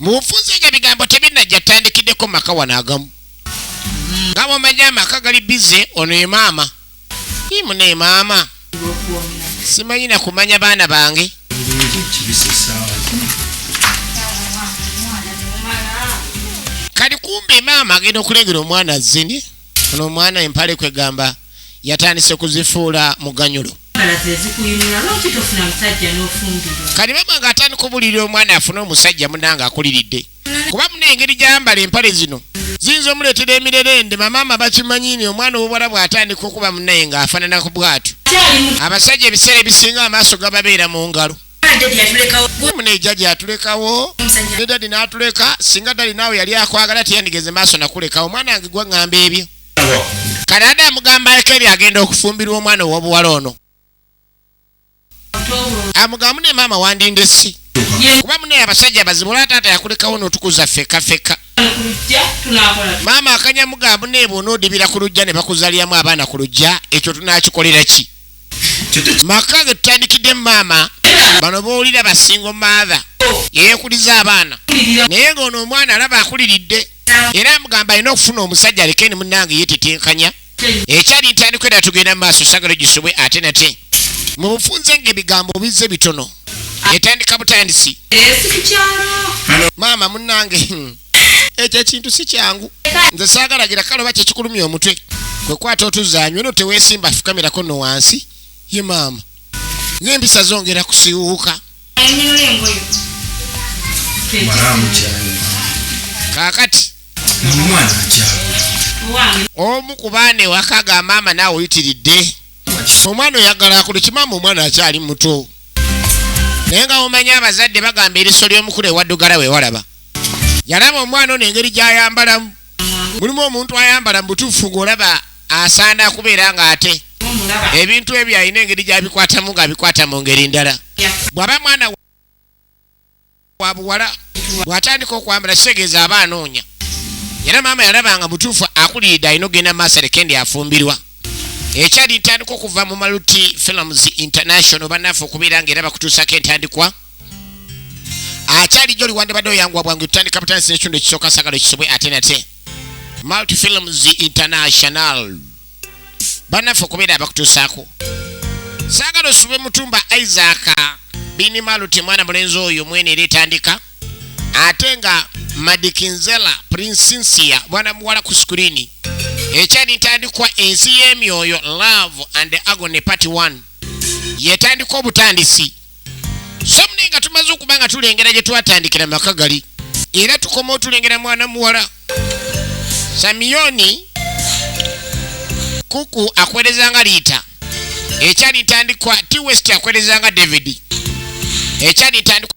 mu bufunze nga bigambo tebinnajja tandikiddeko maka wano agamu nga bwomanyi amaka gali bize ono ye maama imuna ye maama simanyi nakumanya baana bange kati kumbe maama agenda okulengera omwana zini ono omwana empale kwegamba yatandise kuzifuula muganyulo kati mama nga atandika obulirira omwana afune omusajja munanga akuliridde kuba muna engeri gyayambala empale zino ziyinza omuleetera emirerende mamaama bakimanyini omwana owobwala bw'atandika okuba munaye ng'afanana ku bwatu abasajja ebiseera ebisinga amaaso gababeera mu ngalo mune jaja atulekawo ne dadi n'atuleka singa dadi naawe yali akwagala teyandigeze maaso nakulekawo omwana wange gwa ŋŋamba ebyo kati adde amugamba aleko ebyo agenda okufumbirwa omwana owobuwala ono amugamu ne maama wandinde si kuba munaye abasajja bazibu olwa taata yakulekawo notukuza feka feka maama akanyamugamu nebwonaodibira ku lujja ne bakuzaliyamu abaana ku lujja ekyo tunakikolera ki maka ge tutandikidde maama bano bowulira basingo maatha yeyekuliza abaana naye ngaono omwana alaba akuliridde era amugamba alina okufuna omusajja alekeni munange yetetenkanya ekyali ntandiko era tugenda maaso sagala gisubwe ate nate mubufunze nga ebigambo obize bitono etandika butandisi maama munange hmm. ekyo ekintu si kyangu nze saagalagira kale oba kyekikulumya omutwe kwe kwata otuzaanywe no teweesimba fukamirako no wansi ye maama ng'empisa zongera kusiwuuka kaakati omu ku baana ewaka ga maama naawe oyitiridde omwana oyagala akulu kimaama omwana akyali muto naye nga omanya abazadde bagamba eriso ly'omukulu ewaddugala wewalaba yalaba omwana ono engeri gy'ayambalamu mulimu omuntu ayambala mu butuufu ng'olaba asaana kubeera ng'ate ebintu ebyo alina engeri gy'abikwatamu ng'abikwata mu ngeri ndala bw'aba mwana wa buwala bw'atandika okwambala kitegeeza aba anoonya era maama yalaba nga mutuufu akuliridde alina okugenda mu maaso aleke ndi afumbirwa ekyali ntandika okuva mu maluti films international bannaffe okubeera ng'era bakutuusako entandikwa akyali joli wandibadde oyanguwa bwangu tutandika butandisa ekitundu ekisooka sagalo ekisibwe ate nate multi films international banaffe okubeera abakutuusaako saagala osube mutumba isaaka bini maluti mwana mulenzi oyo mwene era etandika ate nga madikinzela prinsinsia mwana muwala ku sikulini ekyali ntandikwa ensi y'emyoyo love and agony part 1 yetandika obutandisi somni nga tumaze okuba nga tulengera gye twatandikira maka gali era tukoma otulengera mwana muwala samiyoni kuku akwerezanga liita ekyalitandikwa t west akwerezanga david ekyalitandikwa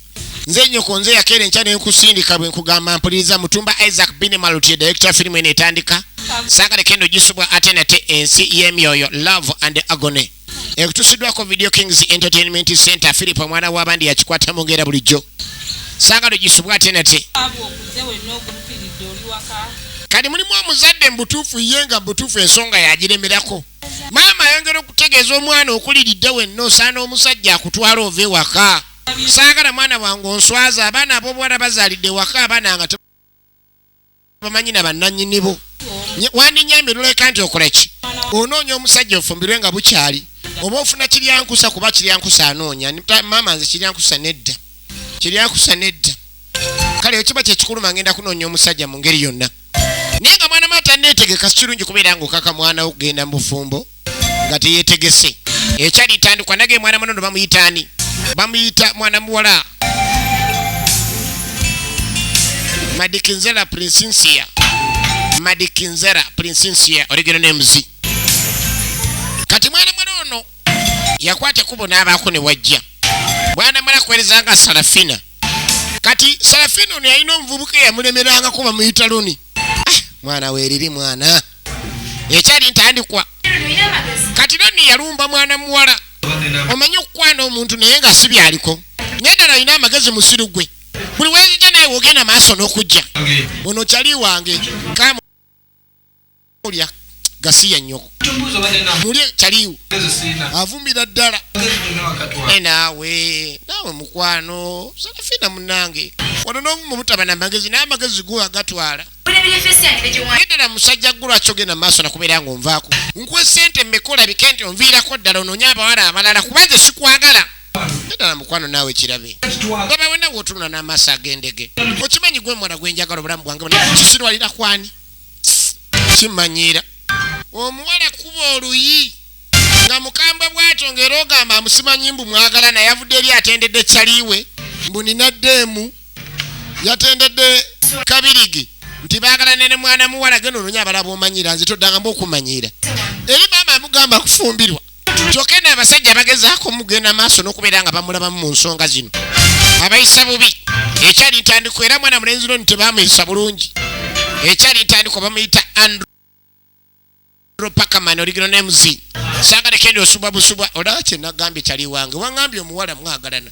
nze nyoko nze yakeera enkya nenkusindika bwe nkugamba mpuliriza mutumba isaac binemalutye direkita wa firimu eno etandika saagala kendo gisubwa ate nate ensi y'emyoyo love and agony ekutusiddwako video kings entertainment center philip omwana w'abandi yakikwata mu ngera bulijjo saagala ogisubwa ate nate kati mulimu omuzadde mubutuufu ye nga mubutuufu ensonga yagiremerako maama ayongera okutegeeza omwana okuliridde wenna osaana omusajja akutwala ova ewaka saagala mwana wange onswaza abaana ab'obuwala bazaalidde waka abaana nga tebamanyi na bannannyini bo wandinyambye noleka nti okola ki onoonya omusajja ofumbirwe nga bukyali oba ofuna kiryankusa kuba kiryankusa anoonya maama nze kiryankusa nedda kiryankusa nedda kale ekiba kyekikulu mangenda kunoonya omusajja mu ngeri yonna naye nga mwana mata neetegeka sikirungi kubeera nga okaka mwana wo kugenda mu bufumbo nga teyetegese ekyalitandikwa nage mwana munono bamuyita ani bamuyita mwana muwala madikinzera prinsinsia madikinzera prinsinsia oligeno nemuzi kati mwana muwala ono yakwata ekubo n'abaako ne wajja mwana muwala kuwerezanga salafina kati salafina ono yalina omuvubuka eyamulemerangako bamuyita loni ah, mwana weriri mwana ekyali ntandikwa kati noni yalumba mwana muwala omanyi okukwana omuntu naye nga si byaliko naye nani alina amagezi musiru gwe buli weyija naye wogenda maaso n'okujja ono kyali wange kamulya gasiya nyoko muli chaliwo avumira ddala e naawe naawe mukwano salafina munange wano novuma obutaba namagezi naye amagezi go agatwala edala musajja gulwaki ogenda maaso nakubeera nga onvaako nkuwe sente mekola bike nti onviirako ddala ononye abawala abalala kubanje sikwagala edala mukwano naawe kirabe gaba wena wotunula n'amaaso agendege okimanyi gwe mwana gwenjagala obulamu bwange kisirwalira kwani kimanyira omuwala kuba oluyi nga mukambwe bwatyo ngaera ogamba amusimanyi mbu mwagala naye avudde eri atendedde caliwe mbu ninaddeemu yatendedde kabirigi nti bagala nene mwana muwala genda ononya abalaba omanyira nze toddanga mbu okumanyira eri maama amugamba kufumbirwa kyokka eno abasajja bagezaako mugenda maaso n'okubeera nga bamulabamu mu nsonga zino abayisa bubi ekyali ntandikwa era mwana mulenzi noni tebamuyisa bulungi ekyali ntandikwa bamuyita andrew pakaman original names sagalekende osubwa busubwa olaba kyenagambye kyali wange wangambye omuwala mwagalana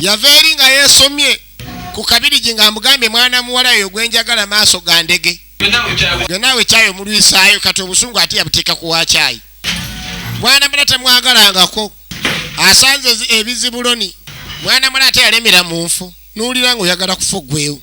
yava eri nga yeesomye ku kabirigi ng'amugambye mwana muwala yo gwe njagala maaso ga ndege gwe naawe kyayi omulwisaayo kati obusungu ate yabuteeka ku wa kyayi mwana mula temwagalangako asanze ebizibuloni mwana mula ate yalemera mu nfu n'owulira ng'oyagala kufa ogwewo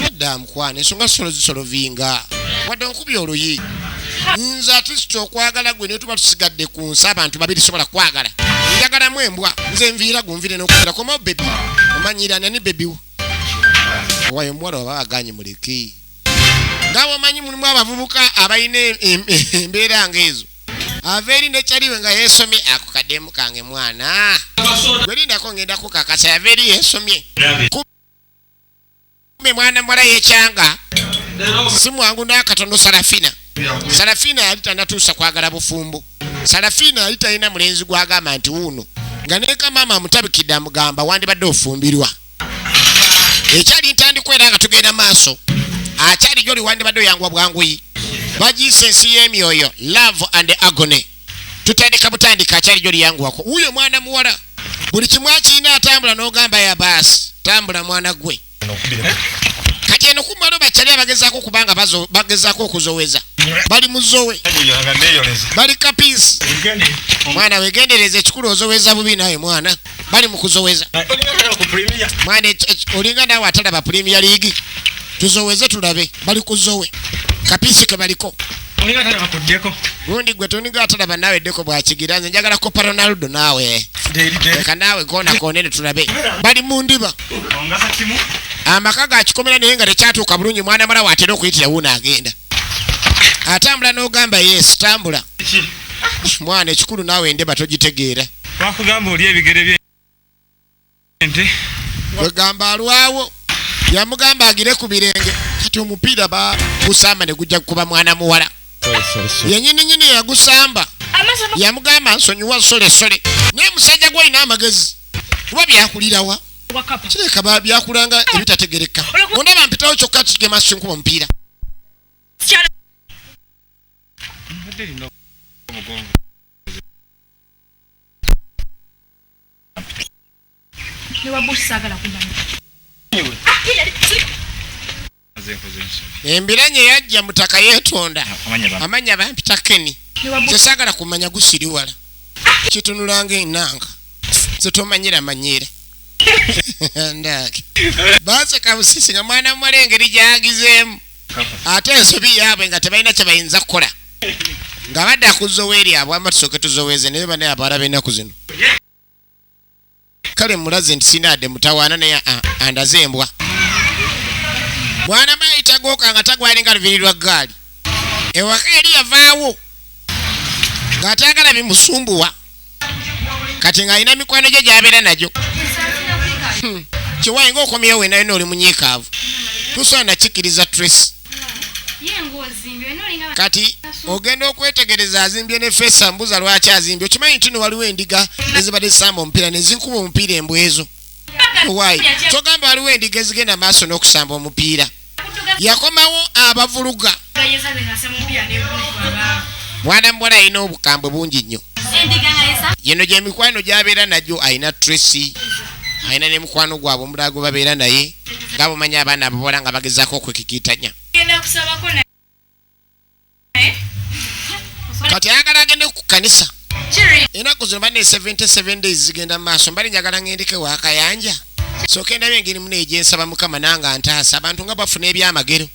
nedda mukwano ensonga solo zisolovinga wadde onkubya oluyi nze atisita okwagala gwe naye tuba tusigadde ku nsi abantu babiri sobola kwagala njagalamu embwa nze nviira gunvire nokugera komawo bebi omanyira nani bebiwo owayo omuwala oba aganye muleke nga bwomanyi mulimu abavubuka abalina embeera nga ezo ava eri nekyaliwe nga yesomye ako kademu kange mwana werindako ngendako kakasa yava eri yesomye me mwana mwala yekyanga si mwangu nakatono sarafina sarafina yali tanatuusa kwagala bufumbo sarafina yali talina mulenzi gwagamba nti wuuno nga neka maama amutabikidde amugamba wandibadde ofumbirwa ekyali ntandikwera nga tugenda maaso akyali gyoli wandibadde oyanguwa bwanguyi bagiisa ensi y'emyoyo love and agony tutandika butandika akyali gyo liyanguwako wuyo mwana muwala buli kimu akirina atambula n'ogamba ya baasi tambula mwana gwe kati eno kumalo bakyali abagezako kubanga bagezako okuzoweza bali muzowe bali kapisi mwana wegendereza ekikulu ozoweza bubi naye mwana bali mu kuzoweza mwana olinga naawe atalaba premier league tuzoweze tulabe bali kuzowe kapisi ke baliko gundi gwe toniga atalaba naawe eddeko bwakigira nze njagala kopa ronaldo naawe leka naawe gona konene tulabe bali mu ndiba amaka gakikomera naye nga tekyatuuka bulungi mwana mala watera okuyitira wuuno agenda atambula n'ogamba yes tambula mwana ekikulu naawe endeba togitegeera Bakugamba oli ebigere bye ente. Gwegamba alwawo. Yamugamba agire ku birenge. Kati omupiira ba gusamba ne gujja kuba mwana muwala. Yenyini nyini yagusamba. Yamugamba nsonyiwa sole sole. Naye musajja gwe alina amagezi. Kuba byakulirawa? Kireka ba byakulanga ebitategereka. Wonna bampitawo kyokka kigema sinkuba omupiira. Mbadde lino omugongo. embiranye yajja mutaka yetonda amanya bampita keni kyesagala kumanya gusiriwala kitunulanga enanga zetomanyira manyira ndaki baseka busisi nga mwana muwala engeri gyagizeemu ate ensobi yaabwe nga tebalina kyebayinza kukola nga badda ku zoweeri abwama tusooke tuzoweeze naye banaye abaala b'ennaku zino kale mulaze nti sinaadde mutawaana naye andaze embwa mwana mayita gooka nga tagwalinga lubiri lwa ggaali ewaka eri yavaawo ng'atagala bimusumbuwa kati ng'alina mikwano gye gy'abeera nagyo hmm. kiwayi ng'okomyewo wena yona oli munyiikaavu tusobola nakikkiriza trace kati ogenda okwetegereza azimbye ne fesa mbuza lwaki azimbye okimanyi nti no waliwo endiga ezibadde zisamba omupiira nezinkuba omupiira embwezo owayi kyogamba waliwo endiga ezigenda maaso n'okusamba omupiira yakomawo abavuluga mwana muwala alina obukambwe bungi nnyo yino gyemikwano gyabeera nagyo alina tracy alina ne mukwano gwabwe omulala gwe babeera naye nga bumanyi abaana ababola nga bagezaako okwekikiitanya kati ayagala agende ku kanisa enaku zino bane 77 days zigenda mu maaso mbali njagala ngendeke wakayanja soka endaba engeri muna egyensaba mukama nange antaasa abantu nga bafuna ebyamagero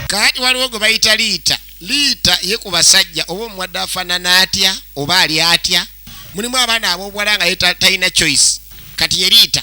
kati waliwo gwe bayita liita liita ye ku basajja oba omuwadde afanana atya oba ali atya mulimu abaana abobwala nga talina choice kati ye liita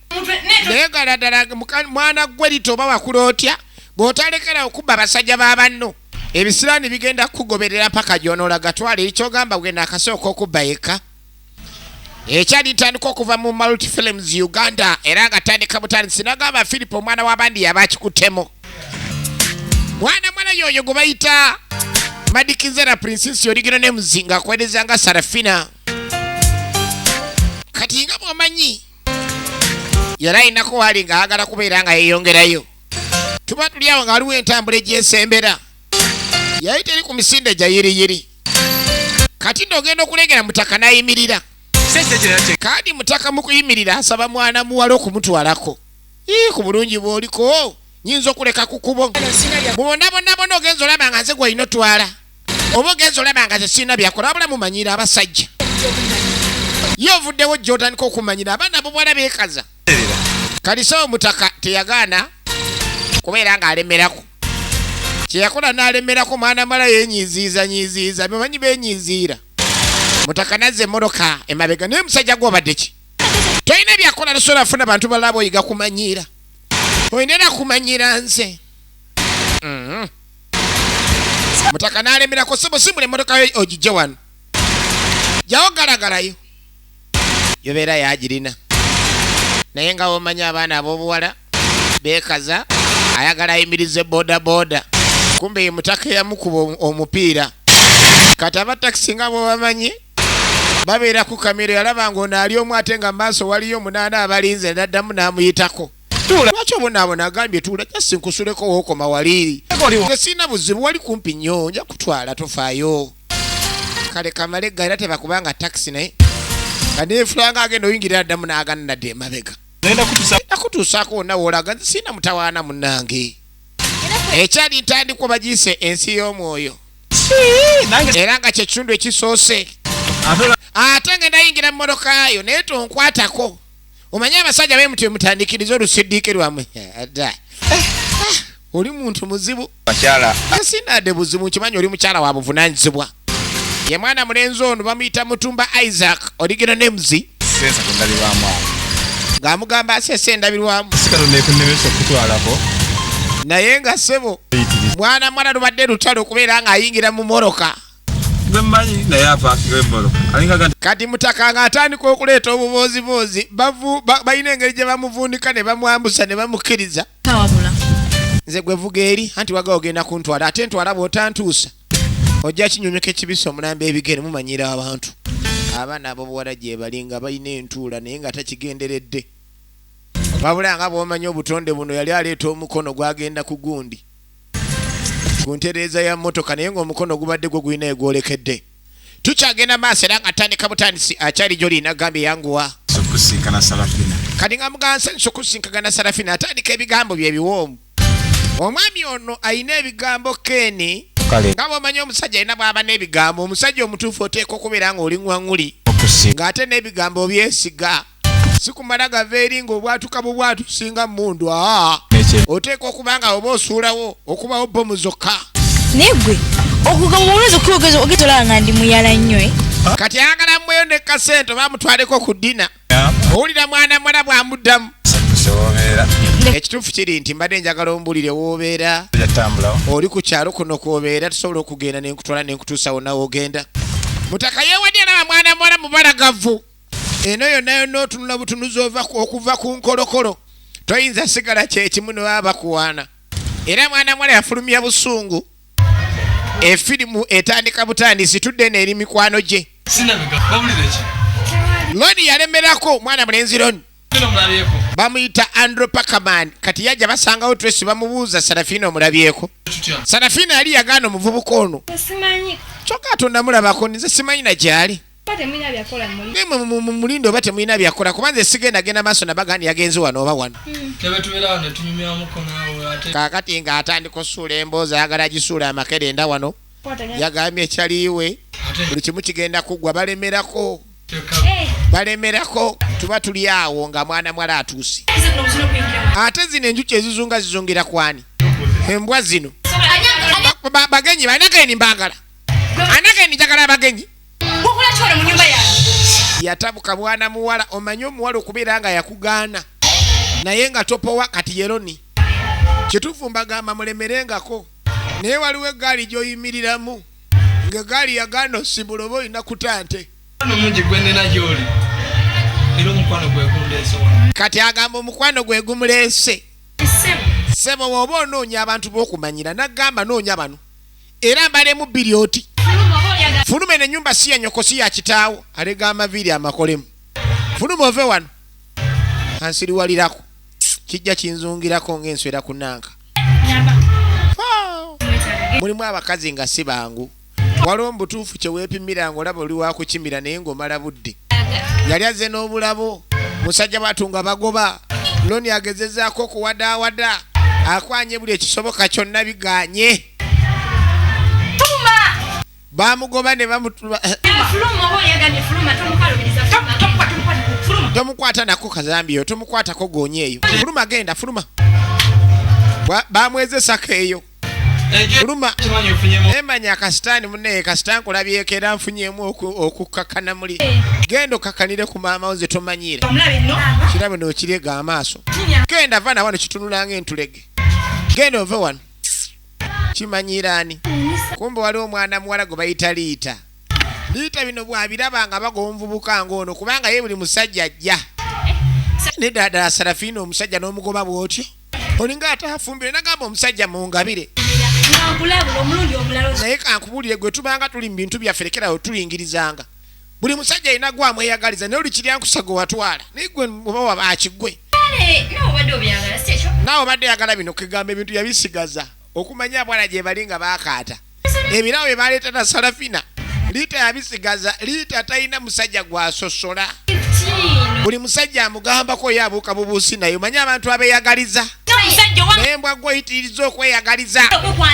naye gala ddala mwana gwe lita oba wakula otya bw'otalekera okubba basajja ba banno ebisiraani bigenda kukugoberera paka gyonoola gatwala ekyogamba gwena akasooka okubba yekka ekyali ntandika okuva mu multi films uganda era nga tandika butandisi nagamba philip omwana w'abandi yaba akikuttemu mwana mwala yoyo gwe bayita madikizera princesi oligino ne muzinga akwereza nga sarafina kati nga bwomanyi yali alinako waali nga ayagala kubeera nga yeeyongerayo tuba tuli awo nga waliwo entambula egyesembera yali teri ku misinde gya yiriyiri kati nno ogenda okulengera mutaka n'ayimirira kandi mutaka mu kuyimirira asaba mwana muwala okumutwalako ii ku bulungi bw'oliko nyinza okuleka ku kubo mubonabonabona ogenza olaba nga nze gwalina otwala oba ogenza olaba nga tekirina byakola wabula mumanyira abasajja ye ovuddewo jotandika okumanyira abaana bubwala bekaza kalisa omutaka teyagaana kubeera ng'alemerako kyeyakola n'alemerako mwana mala yenyiziiza nyiziiza bimanyi benyiziira mutaka nazza emmotoka emabega naye musajja gwobadde ki tolina byakola lusobola funa bantu balaba oyiga kumanyiira olina era kumanyiira nze mm -hmm. mutaka n'alemera ku simu simula emmotoka yo ogijje wano jawo galagalayo yobeera yagirina naye nga womanya abaana ab'obuwala beekaza ayagala ayimirize bodaboda kumbe ye mutaka eyamukuba omupiira kati abatakisi nga bwebamanyi babeera ku kamiro yalaba nga ono ali omu ate nga maaso waliyo omunaana abalinze naddamu n'amuyitako Tuula. Lwaki obonaabona agambye tuula just nkusuleko wookoma wali. Nze sirina buzibu wali kumpi nnyo nja kutwala tofaayo. Kale kamale gga era tebakubanga takisi naye. Nga neefulanga agenda oyingirira addamu n'agana nadda emabega. Nakutuusaako wonna woolaga nze sirina mutawaana munnange. Ekyali ntandikwa bagiyise ensi y'omwoyo. Era nga kye kitundu ekisoose. Ate nga nayingira mu mmotoka yo naye tonkwatako. omanyi abasajja bemuti emutandikiriza olusidiike lwamwe ada oli muntu muzibu bakyala asinade buzibu nkimanyi oli mukyala wa buvunanyizibwa ye mwana mulenzi ono bamuyita mutumba isaac oligino nemzi sensa kundabirwamu awo ng'amugamba asesa endabirwamu sikatonekunnemesa okutwalako naye nga sebo mwana mwana lubadde lutalo okubeera ng'ayingira mu moroka kati mutaka nga atandika okuleeta obubooziboozi balina engeri gye bamuvundika ne bamwambusa ne bamukkiriza nze gwe vuga eri anti waga ogenda kuntwala ate ntwala bw'otantuusa ojja kinyumyuka ekibisa omulamba ebigere mumanyira abantu abaana abobuwala gyebali nga balina entuula naye nga takigenderedde wabula nga bwomanyi obutonde buno yali aleeta omukono gwagenda ku gundi ku ntereeza ya mmotoka naye ng'omukono gubadde gwo gulina egwolekedde tukyagenda maaso era nga tandika butandisi akyali gyoli nagambye yanguwa kati nga mugansa nsi okusinkagana sarafina atandika ebigambo bye biwoomu omwami ono alina ebigambo keni nga bwomanyi omusajja alina bwaba n'ebigambo omusajja omutuufu oteeka okubeera ng'oli ŋwaŋuli ng'ate n'ebigambo obyesiga sikumala gava eri ng'obwatuka bubwatu singa mundu aa oteeka okuba nga oba osuulawo okubawo bomu zokka naye gwe okugamba olweza okwogeza ogeza olaba nga ndi muyala nnyo eh? kati ayagala mweyo ne kasente oba amutwaleko ku dina owulira mwana mwala bwamuddamu ekituufu kiri nti mbadde njagala ombulire woobeera oli ku kyalo kuno kwobeera tusobola okugenda nenkutwala nenkutuusawo nawe ogenda mutaka yewadya naba mwana mwala mubalagavu eno yonna yonna otunula butunuzi okuva ku nkolokolo toyinza sigala kyekimu ne baba bakuwaana era mwana mwala yafulumya busungu efirimu etandika butandisi tudde neeri mikwano gye loni yalemerako mwana mulenzi loni bamuyita andrew pakaman kati yajja basangawo tresi bamubuuza sarafina omulabyeko sarafina yali yagaana omuvubuka ono kyokka atonda mulabako nize simanyi na gyali mulindo oba temulina byakola kuba nze sigenda genda maaso nabagandi yagenze wano oba wano hmm. kakati nga atandika osuula emboozi ayagala agisuula amakere enda wano yagambye ekyaliiwe buli kimu kigenda kuggwa balemerako eh. balemerako tuba tuli awo nga mwana mwala atuuse ate zino enjuki ezizunga zizungira kwani embwa zino bagenyi banageni mbagala anageni njagala abagenyi yatabuka mwana muwala omanye omuwala okubeera nga yakugaana naye nga topowa kati yeroni kituufu mbagamba mulemerengako naye waliwo egaali gyoyimiriramu nga egaali yagaana osibula oba olina kutante kati agamba omukwano gwe gumuleese sebo woba onoonya abantu bokumanyira nagamba noonya bano era mbalemu bbiri oti fuluma eno enyumba si yanyoko si yakitaawo alega amaviiri amakolemu fuluma ove wano ansiriwalirako kijja kinzungirako ng'enswera ku nanka mulimu abakazi nga si bangu waliwo mu butuufu kye weepimira ng'olaba oli wakukimira naye ng'omala budde yali azze n'obulabu musajja batu nga bagoba loni agezezaako okuwadaawada akwanye buli ekisoboka kyonna biganye bamugoba ne bamutuba eh, tomukwata nako kazambi yo tomukwatako gonya eyo fuluma genda fuluma bamwezesako eyo kuluma emanya akasitaani munaye kasita nkulabyeko era nfunyemu okukkakana muli genda okkakanire ku maama wo zetomanyiire kirabe nokiryega amaaso genda va nawano kitunulanga entulege genda ove wano kimanyiiraani kumbe waliwo omwana muwala gwe bayita liita liita bino bwabiraba nga baga omuvubuka ngaono kubanga ye buli musajja ajja eh, nedadala sarafiina omusajja n'omugoba bwotyo olinga atafumbire nagamba omusajja mungabire naye kankubulire gwe tubanga tuli mu bintu byaffe lekerawo tuyingirizanga buli musajja alina gwamweyagaliza naye olikiryankusago watwala naye gwe oba waba akigwe naawe obadde oyagala bino kegamba ebintu yabisigaza okumanya abwana gyebali nga bakaata ebirabo bye baleeta na salafina liita yabisigaza liita talina musajja gwasosola buli musajja amugambako oyo abuuka bubuusi naye omanyi abantu abeyagaliza naye mbwa gwoyitiriza okweyagaliza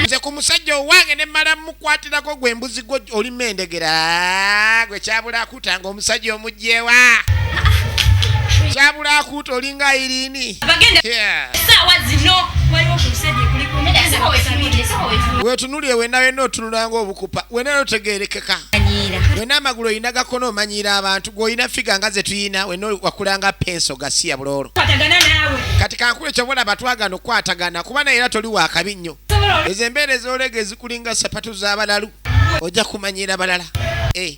nze ku musajja owange ne mala mukwatirako gwe mbuzi gwo olima endegera gwe kyabulaku akuuta nga omusajja omugyewa kyabula akuuta olinga ayirini wetunuli ewena wena otunulanga obukupa wena notegerekeka wena amagulu olina gakono omanyiira abantu gweolina figa nga zetuyina wena wakulanga penso gasiya buloolo kati kankulu ekyo bona batwagana okukwatagana kuba naye era toli wakabi nnyo ezo embeera ezolega ezikulinga sapatu z'abalalu ojja kumanyira balala eh.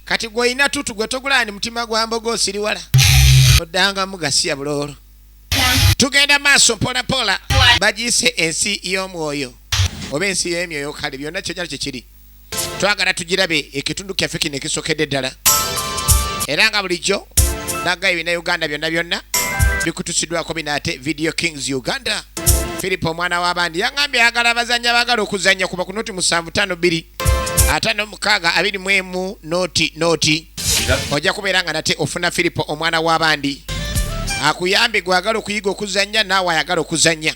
kati gwolina tutu gwe togulandi mutima gwa mboga osiriwala oddanga mugasiya buloolo tugenda maaso mpolampola bagiyise ensi y'omwoyo oba ensi y'emyoyo kale byonna kyojalo kyekiri twagala tugirabe ekitundu kyaffe kino ekisokedde ddala era nga bulijjo naga ebina uganda byonna byonna bikutusiddwako bino ate video kings uganda philip omwana w'abandi yangambye ayagala abazannya bagala okuzannya kuba kunoti musanvu tano bbiri ataano mukaaga abiri mu emu noti noti ojja kubeera nga nate ofuna firipo omwana w'abandi akuyambe gwagala okuyiga okuzannya naawe ayagala okuzannya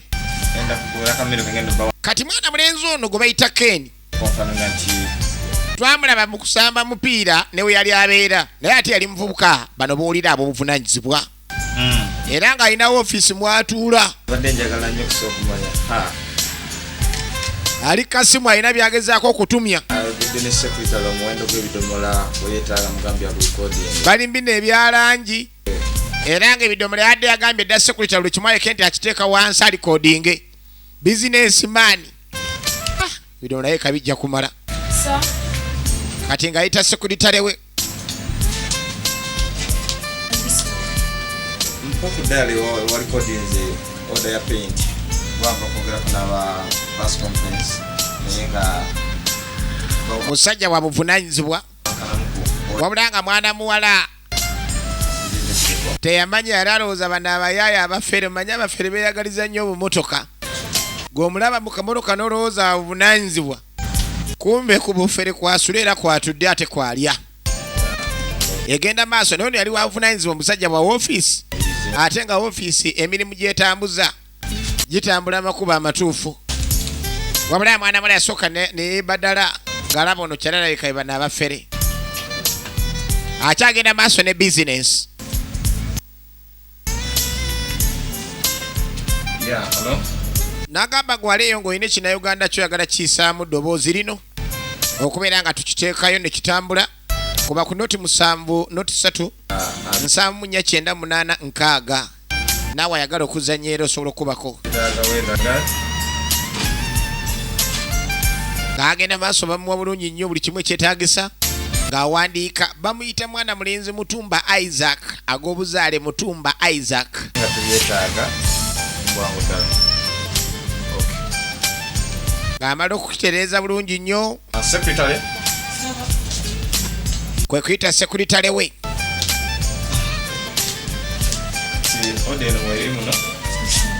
kati mwana mulenzi ono gwe bayita keni twamulaba mu kusamba mupiira newe yali abeera naye ate yali muvubuka bano bowulira abobuvunanyizibwa hmm. era ng'alinawo ofiisi mwatuula ali kasimu alina byagezaako okutumya balimbi nebyalangi era nga ebidomola yadde yagambye dda sekulita buli kimu aleke nti akiteeka wansi alikodinge bizinesi maani ah, ebidomola ye kabijja kumala kati ng'ayita sekulitarewe mpoku dali walikodinze order ya paint gwava kwogerako naba bus conference naye nga musajja wabuvunanyizibwa wabula nga mwana muwala teyamanya yali alowooza bano abayaayo abafere manya abafere beyagaliza nnyo obumotoka gweomulaba mukamotoka nolowooza obunanyizibwa kumbe ku bufere kwasula era kwatudde ate kwalya egenda maaso naye ono yali wavunanyizibwa omusajja bwa wofiisi ate nga wofiisi emirimu gyetambuza gitambula amakuba amatuufu wabula mwana mula yasooka nebadala ngalaba ono kyalalaikaibana abafere akyagenda maaso ne bizinensi nagamba gwaleeyo ng'olina ekinauganda kyoyagala kiyisaamu ddoboozi lino okubeera nga tukiteekayo ne kitambula kuba ku noti musanvu noti satu nsanvu munya kyenda munaana nkaaga naawe ayagala okuzanya era osobola okukubako ng'agenda maaso bamuwa bulungi nnyo buli kimu ekyetaagisa ng'awandiika bamu Bamuyita mwana mulenzi Mutumba Isaac ag'obuzaale Mutumba Isaac. Nga teyeetaaga bwangu ddala. Ng'amala okukitereeza bulungi nnyo. Ah, Sekitale. Kwe kuyita sekuritale we. Kati oda eno mweri muno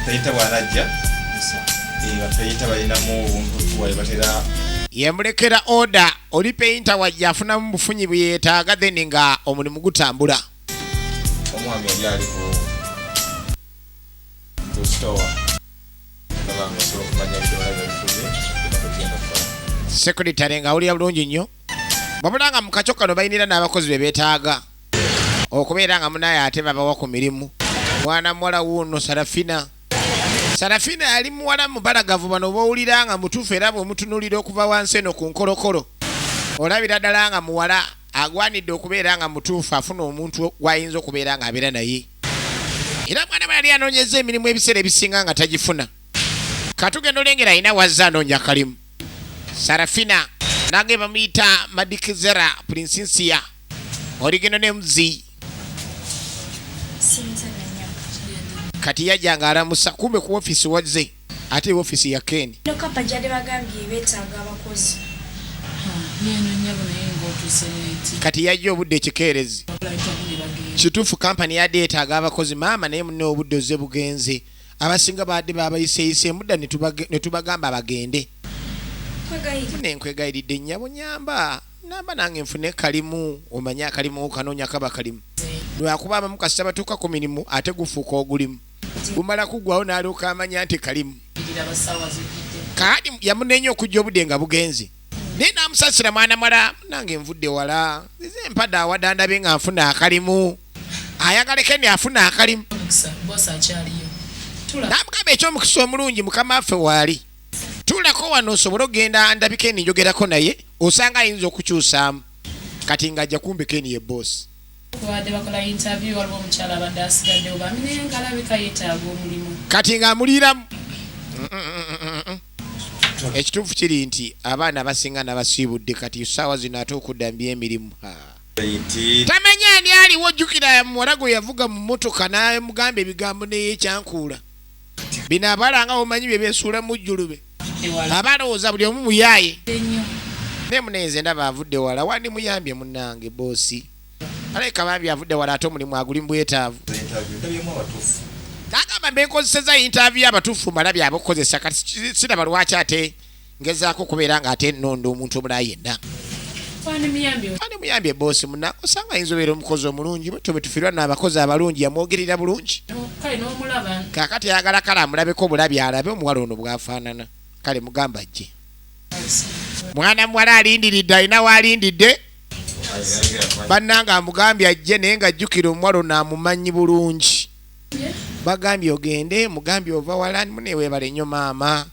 teyita bwanajja bateyita balinamu obuntu tuwaye batera. Yemulekera oda. Oli painter wajja afunamu bufunyi bweyetaaga then nga omulimu gutambula. Omwami yali ali ku ku store nga osobola okumanya ebidomola byebifuze byebatugenda okukola. Secretary nga awulira bulungi nnyo wabula nga mu kakyo kano balinira n'abakozi be beetaaga okubeera nga munaye ate babawa ku mirimu. Mwana muwala wuuno Sarafina. Sarafina yali muwala mubalagavu bano bowulira nga mutuufu era bwemutunulira okuva wansi eno ku nkolokolo olabira ddala nga muwala agwanidde okubeera nga mutuufu afuna omuntu gwayinza okubeera nga abeera naye era mwana bwe yali anoonyeza emirimu ebiseera ebisinga nga tagifuna katugenda olengera alina wazze anoonya kalimu sarafina nange bamuyita madikizera prinsinsiya oligenda ne muzi kati yajja nga alamusa kumbe ku ofisi wazze ate ofisi ya keni kati yajja obudde ekikeerezi kituufu kampani yadde yetaaga abakozi maama naye mune obudde oze bugenze abasinga baadde babayiseyise mudda netubagamba bagende nenkwegayilidde nyabo nyamba namba nange nfune kalimu omanyi akalimu kanoonya kaba kalimu lwakuba abamu kasita batuuka ku mirimu ate gufuuka ogulimu gumala kugwawo nalyoka amanya nti kalimu kaadi yamunenya okujja obudde nga bugenze naye namusasira mwana mala nange nvudde wala eze empada awadandabe nga nfuna akalimu ayagaleke ni afuna akalimu namugamba ekyomukisa omulungi mukama affe waali tulako wano osobole okugenda ndabi keni njogerako naye osanga ayinza okukyusaamu kati nga ajja kumbi keni ye bosi kati nga amuliiramu ekituufu kiri nti abaana abasinga nabasiibudde kati saawa zino ate okudda mby emirimu tamanya ani aliwo jjukira muwala gwe yavuga mu motoka namugamba ebigambo neyekyankuula bino abala nga bomanyi byebesuula mujjulube aba alowooza buli omu muyaaye naye munenze ndaba avudde wala wandi muyambye munange boosi alabika bambi avudde wala ate omulimu aguli mubwetaavu agamba mbekozeseza yintaavi abatuufu mala byabakukozesa kati siraba lwaki ate ngezaako okubeera nga ate nnonda omuntu omulala yenna ani muyambye boosi muna osanga ayinza obeera omukozi omulungi butyo bwe tufirwa naabakozi abalungi yamwogerera bulungi kakati ayagala kale amulabeko obulabi alabe omuwala ono bwafaanana kale mugamba jje mwana muwala alindiridde alina waalindidde bannanga amugambye ajje naye nga jjukira omuwala ono amumanyi bulungi bagambye ogende mugambye ova walani muneweebale nnyo maama